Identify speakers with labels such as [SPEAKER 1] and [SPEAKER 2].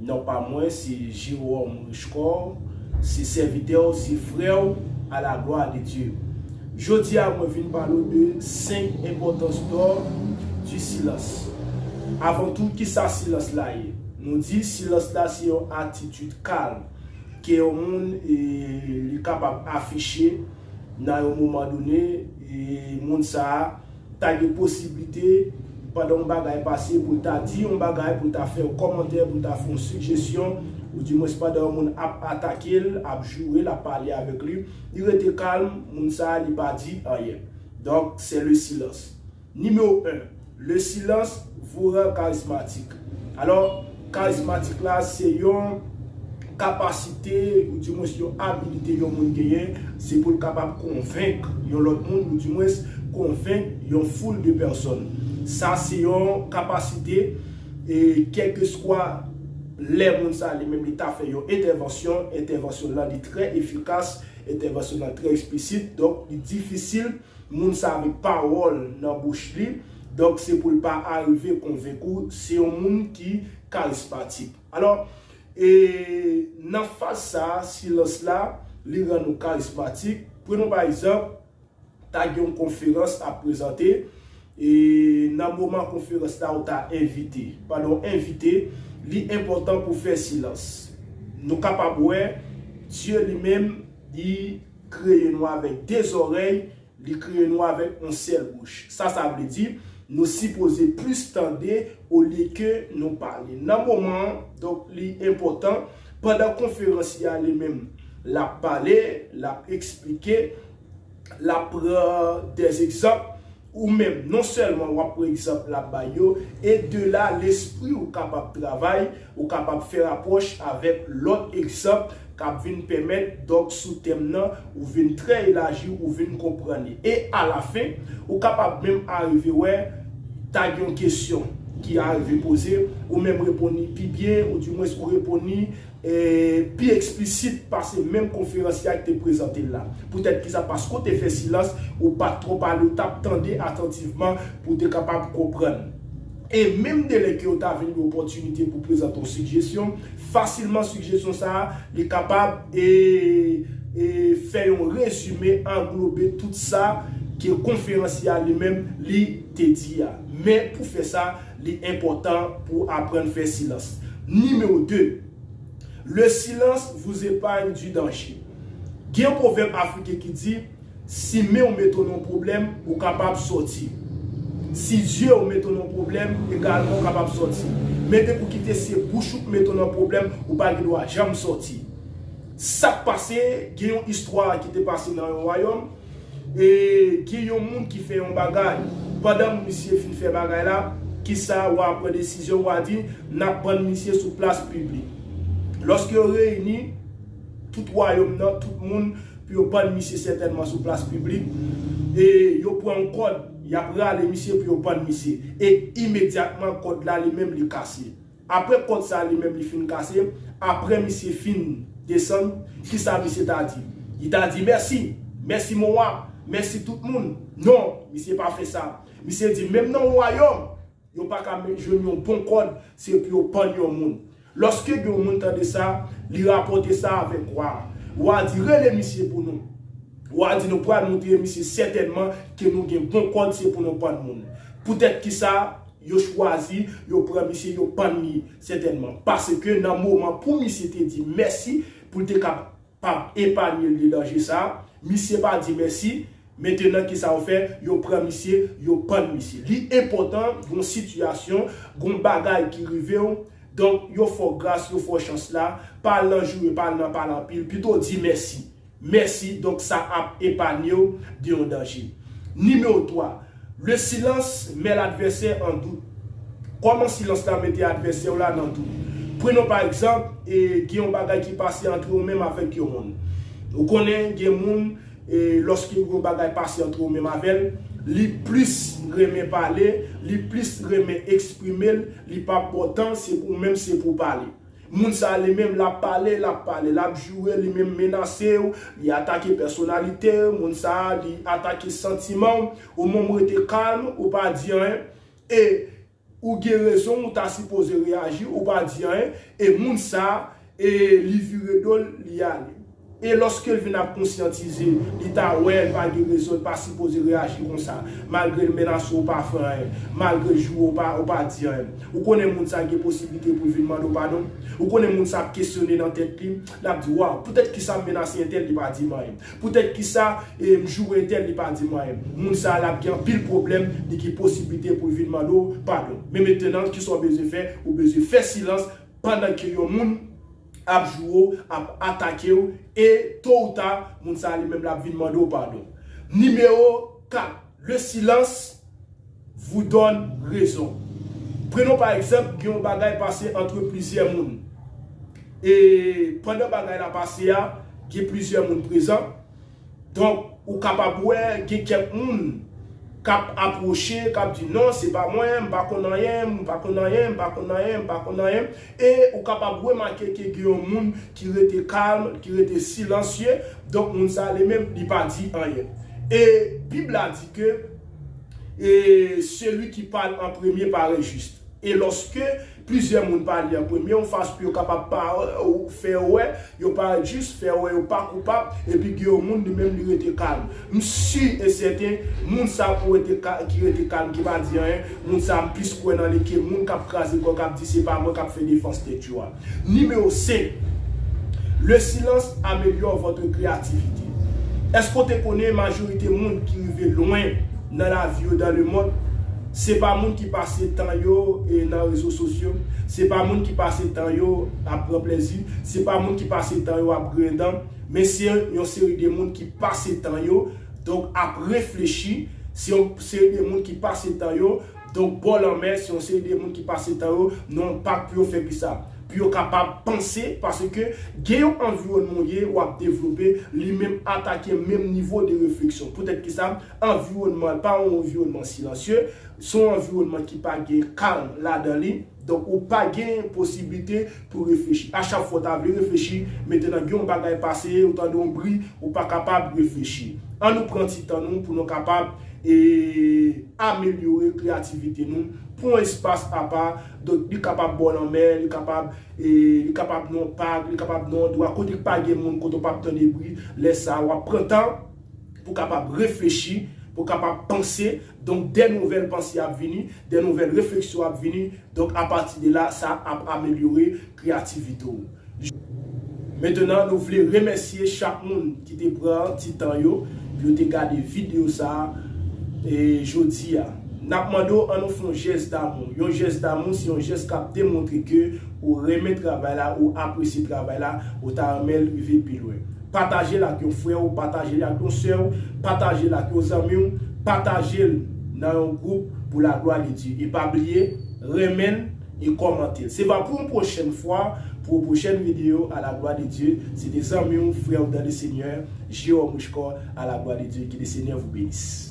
[SPEAKER 1] Non pa mwen se Jerôme Richecor, se sèvitè w, se frè w, a la glwa de Dye. Jodi a mwen vin pale w de 5 enpòtans dò di silans. Avan tou ki sa silans la ye? Nou di silans la se yon atitid kalm ke yon moun li kapab afiche nan yon moman done e moun sa a Ta gen posiblite pandan yon bagay pase pou l ta di yon bagay, pou l ta fè yon kòmantè, pou l ta fè yon sigjesyon, ou di mwens pandan yon moun ap atake l, ap joure l, ap pale avèk li, li rete kalm, moun sa a li pa di anyen. Donk, c'est le silence. Numéro 1, Le silence vous rend charismatique. Alò, karizmatik la se yon kapasite ou di mwens yon abilite yon moun genyen, se pou l kapab konvenk yon lòt moun ou di mwens konvenk yon foul de pèsòn. Sa se yon kapasite e kèlkeswa lè moun sa li menm li ta fè yon entèvansyon, entèvansyon l lan li trè efikas, entèvansyon l lan trè eksplisit donk li difisil Moun sa met pawòl nan bouch li, donk se pou l pa arive konvenk ou se yon moun ki karismatik. Alò, e nan faz sa a, silans la, li rann ou karismatik. Prenons pa egzanp, ta gen yon konferans ap prezante, e nan moman konferans la ou ta envite. Pandan w envite, li enpòtan pou w fè silans. Nou kapab wè, Dye li menm, li Kreye nou avèk de zòrèy, li kreye nou avèk yon sèl bouch. Sa sa vle di? Nou sipoze plis tande olye ke nou pale. Nan moman an, donk li enpòtan, pandan konferansye a li menm, l ap pale, l ap eksplike, l ap pran dèzegzanp, Ou menm, non sèlman w ap pran egzanp l ap bay yo, e de la, lespri w kapab travay, ou kapab fè rapwòch avèk lòt egzanp k ap vin pèmèt, donk sou tèm nan, ou vin trè elaji, ou vin konprann li. E alafen, ou kapab menm arive wè, ta gen yon kesyon ki arive poze, ou menm reponn li pi byen, oudimwens ou reponn li e pi eksplisit pase menm konferansye a ki te prezante l la. Poutèt ki sa? Paske w te fè silans, ou pa t twò pale, ou t ap tande atantivman pou w te kapab konprann. E menm de lè ke yo ta vin gen opòtinite pou prezante yon sigjesyon, fasilman sigjesyon sa a, li kapab e e fè yon rezime, anglobe tout sa ke konferansye a li menm li te di a. Men pou fè sa, Li enpòtan pou w aprann fè silans. Nimewo 2, Le silans vous epagne du danger. Gen yon pwovèb afriken ki di, Si men w mete w nan yon pwoblèm, ou kapab sòti. Si zye w mete w nan yon pwoblèm, egalman ou kapab sòti. Men depi w kite se bouch ou k mete w nan pwoblèm, ou pa gen dwa janm sòti. Sa k pase, gen yon istwa ki te pase nan yon wayòm. E gen yon moun ki fè yon bagay pandan misye fin fè bagay la, kisa wa pran desizyon, wa di, n ap pann misye sou plas piblik. Lòske yo reyini tout wayòm nan, tout moun, pou yo pann misye sètènman sou plas piblik, e yo pran yon kòd, y ap rale misye pou yo pann misye. E imedyatman kòd la li menm li kase. Aprè kòd sa li menm li fin kase, aprè misye fin desann, kisa misye ta di? Li ta di mèsi, mèsi mon wa, mèsi tout moun. Non, misye pa fè sa. Misye di menm nan wayòm, yo pa ka jwenn yon bon kòd se pou yo pann yon moun. Lòske gen yon moun tande sa, li rapòte sa avèk wa a. Wa a di rele misye pou nou. Wa a di nou pral moutre misye sètènman ke nou gen bon kòd se pou nou pann moun. Poutèt kisa? Yo chwazi, yo pran misye, yo pann li, sètènman. Paske nan moman pou misye te di mèsi, pou l te kapab epanye l de danje sa a, misye pa di mèsi, mentenan kisa yo fè, yo pran misye, yo pann misye. Li enpòtan, gon sitiyasyon, gon bagay ki rive w, donk yo fè w gras, yo fè w chans la, pa al nan joure, pa al nan pale anpil, pito di mèsi. Mèsi, donk sa ap epanye w de yon danje. Nimewo 3, Le silence met l'adversaire en doute, Kòman silans la mete advèsè w la nan dout? Prenons par exemple, gen yon bagay ki pase antre ou menm avèk yon moun. Ou konnen gen moun, lòske yon bagay pase antre ou menm avè l, li plis renmen pale, li plis renmen eksprime l, li p ap ba w tan, se pou ou menm se pou w pale. Moun sa li menm lap pale lap pale lap joure li menm menase w li atake pèsonalite w moun sa li atake santiman w ou menm w rete kalm ou pa di anyen e ou gen rezon w ou ta sipoze reyaji ou pa di anyen e moun sa e li vire do l li ale. E lòske l vin ap konsyantize, li ta wè l pa gen rezon, l pa sipoze reyaji konsa. Malgre l menase w, ou pa fè anyen. Malgre l joure w, ou pa di anyen. Ou konnen moun sa gen posiblite pou l vin mande w padon. Ou konnen moun sa ap kesyone nan tèt li. L ap di, Waw, poutèt kisa m menase entèl, li pa di m anyen? Poutèt kisa m joure entèl, li pa di m anyen? Moun sa a, l ap gen anpil pwoblèm, li gen posiblite pou l vin mande w padon. Men metenan, kisa w bezwen fè? Ou bezwen fè silans pandan ke yon moun. ap joure w, ap atake w e to ou ta moun sa a li menm l ap vin mande w padon. Nimewo 4, Le silence vous donne raison. Prenon pa egzanp gen yon bagay pase antre plizyè moun e pandan bagay la pase a gen plizyè moun prezan, Donk, ou kapab wè gen kèk moun k ap apwoche, k ap di, non, se pa mwen, m pa konn anyen, m pa konn anyen, m pa konn anyen, m pa konn anyen. E ou kapab remake ke gen yon moun ki rete kalm, ki rete silansye, donk moun sa a li menm li pa di anyen. E Bib la di ke, E seli ki pale an premye pare jis. E lòske Plizyè moun pa li an premye ou fas pou yo kapab pa fè yo wè yo pa jis, fè yo wè yo pa koupab, epi gen yon moun li menm li rete kalm. M si e sèten moun sa pou rete ki rete kalm ki pa di anyen, moun sa m plis kwè nan li ke moun k ap kraze kò k ap di se pa mwen k ap fè defans tèt yo a. Nimewo 5, Le silans amelyò vòtre kreyativite. Èske w te konnen majorite moun ki rive lwen nan lavi yo dan lemond, Se pa moun ki pase tan yo nan rezo sosyo, se pa moun ki pase tan yo ap pran plezi, se pa moun ki pase tan yo ap griyen dan, men se yon seri de moun ki pase tan yo donk ap reflechi, se yon seri de moun ki pase tan yo donk bò lanmè, se yon seri de moun ki pase tan yo nan yon pak pou yo fè kisa? Pou yo kapab panse paske gen yon anviwònman ou ye, w ap devlope, li menm atake menm nivo de refleksyon. Poutèt kisa? Anviwònman an pa yon anviwònman silansye, se yon anviwònman ki pa gen kalm ladan li, donk ou pa gen posiblite pou reflechi. A chak fwa ou ta vle reflechi, mentènan gen yon bagay pase, ou tande yon bri, ou pa kapab reflechi. An nou pran ti tan nou pou nou kapab amelyore kreyativite nou, pran yon espas apa, donk li kapab bò lanmè, li kapab li kapab nan yon pak, li kapab nan yon andwa kote k pa gen moun, kote ou pap tande bri, lè sa a w ap pran tan, pou kapab reflechi, pou kapab panse, donk dè nouvèl panse ap vini, dè nouvèl refleksyon ap vini, donk a pati de la sa ap amelyore kreyativite w. Mentenan nou vle remèsye chak moun ki te pran ti tan yo pou yo te gade videyo sa jodi a. N ap mande w an nou fè yon jès damou, yon jès damou se yon jès k ap demontre ke ou renmen travay la, ou apresye travay la, ou ta renmen l rive pi lwen. Pataje l ak yon frè w, pataje l ak yon sè w, pataje l ak yon zanmi w, pataje l nan yon gwoup pou laglwa de Dye. E pa bliye renmen l e kòmante l. Se va pou yon pwochèn fwa pou yon pwochèn videyo Alaglwa de Dye. Se te zanmi w, frè w dan le Senyè, Jerome Richecor Alaglwa de Dye. Ke le Senyè vou benis.